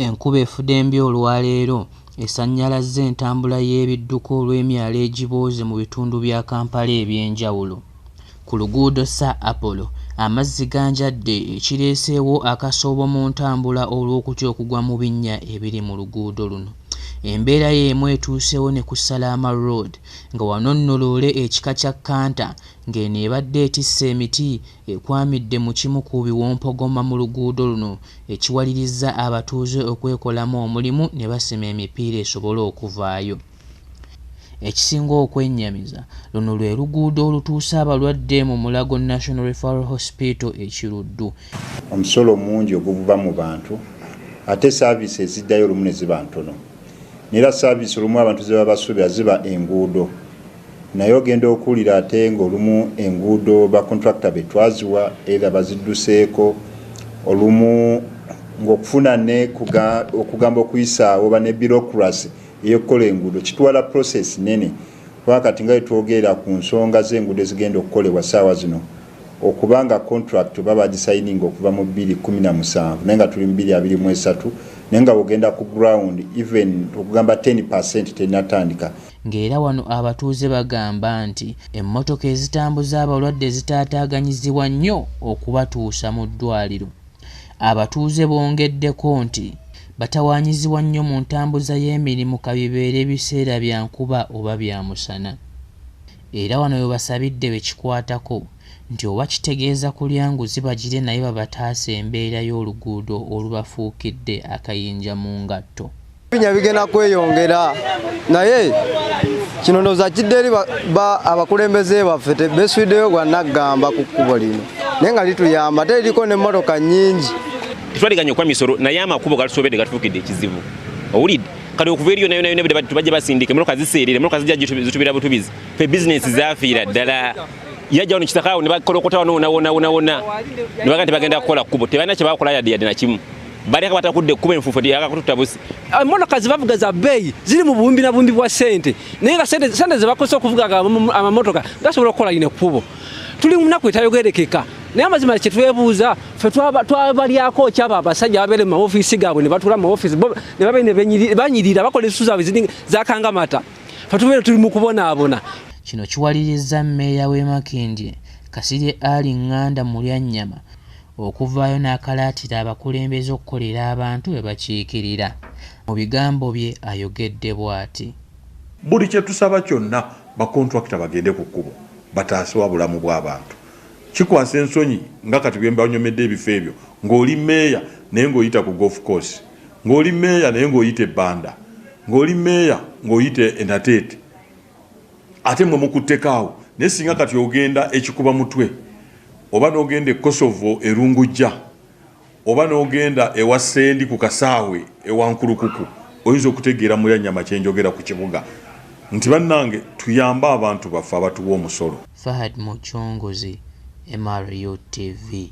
Enkuba efudembye olwaleero esannyalazza entambula y'ebidduka olw'emyala egibooze mu bitundu bya Kampala eby'enjawulo. Ku luguudo Sir Apollo amazzi ganjadde ekireeseewo akasoobo mu ntambula olw'okutya okugwa mu binnya ebiri mu luguudo luno. Embeera y'emu etuuseewo ne ku Salaama Road nga wano nno loole ekika kya Canter ng'eno ebadde etisse emiti ekwamidde mu kimu ku biwompogoma mu luguudo luno ekiwalirizza abatuuze okwekolamu omulimu ne basima emipiira esobole okuvaayo. Ekisinga okwennyamiza, luno lwe luguudo olutuusa abalwadde mu Mulago National Referral Hospital e Kiruddu. Omusolo omungi oguvuba mu bantu ate saaviisi eziddayo olumu ne ziba ntono. Neera saaviisi olumu abantu ze babasuubira ziba enguudo Naye ogenda okuwulira ate ng'olumu enguudo ba contractor be twaziwa either bazidduseeko, olumu ng'okufuna ne okugamba okuyisaawo ba ne bureaucracy ey'okukola enguudo kitwala process nnene kubanga kati nga bwe twogerera ku nsonga z'enguudo ezigenda okukolebwa ssaawa zino okuba nga contract oba baagisayininga okuva mu bbiri kkumi na musanvu naye nga tuli mu bbiri abiri mu esatu naye nga bw'ogenda ku ground even okugamba ten percent tennatandika. ng'era wano abatuuze bagamba nti emmotoka ezitambuza abalwadde zitaataaganyizibwa nnyo okubatuusa mu ddwaaliro. Abatuuze bongeddeko nti batawaanyizibwa nnyo mu ntambuza y'emirimu ka bibeere biseera bya nkuba oba bya musana era wano we basabidde be kikwatako nti oba kitegeeza kulya nguzi bagire naye babataase embeera y'oluguudo olubafuukidde akayinja mu ngatto. binya bigenda kweyongera naye kino ndowooza kidde eri abakulembeze baffe beswiddeyo gwa naggamba ku kkubo lino naye nga lituyamba ate eriko nemmotoka nyingi tetwaliganya okuba misolo naye amakubo gatusobedde gatufuukidde ekizibu owulidde kati okuva eriyo nayo nayo nebudde tubajja basindika emmotoka ziseerera emmotoka zijja zitubira butubizi fe bizinensi zafiira ddala yajja wano kitakaawo ne bakolokotawo nowonawonawonawona ne bagenda tebakukola kkubo tebalina kye bakola yadde yadde nakimu bali akabata kudde ekkubo enfuufu nti yaka kututta busi emmotoka ah, zebavuga za bbeeyi ziri mu buwumbi na buwumbi bwa ssente naye nga ssente zebakozesa okuvuga amamotoka gasobola okukola lino ekkubo tuli mu nnaku etayogerekeka naye amazima kyetwebuuza fe twabalyako kyaba abasajja babeere mu maofiisi gaabwe ne batula mu maofiisi ne babe nebanyirira bakola ensusu zaabwe ziri zakangamata fe tubeere tuli mu kubonaabona kino kiwalirizza mmeeya w'e makindye kasirye ali nganda mu lyannyama okuvaayo n'akalaatira abakulembeze okukolera abantu be bakiikirira. Mu bigambo bye ayogedde bwati. Buli kye tusaba kyonna bakontulakita bagende ku kkubo bataase obulamu bw'abantu. Kikwasa ensonyi nga kati bwe mbanyomedde ebifo ebyo ng'oli meeya naye ng'oyita ku Golf Course, ng'oli meeya naye ng'oyita e Banda, ng'oli meeya ng'oyita e Nateete. ate mwe mukuttekaawo naye singa kati ogenda ekikuba mutwe oba nogenda e kosovo erungujja oba nogenda ewa sendi ku kasaawe ewankulukuku oyinza okutegeera mulya nyama kyenjogera ku kibuga nti bannange tuyambe abantu baffe abatuwa omusolo fahad mucunguzi mru tv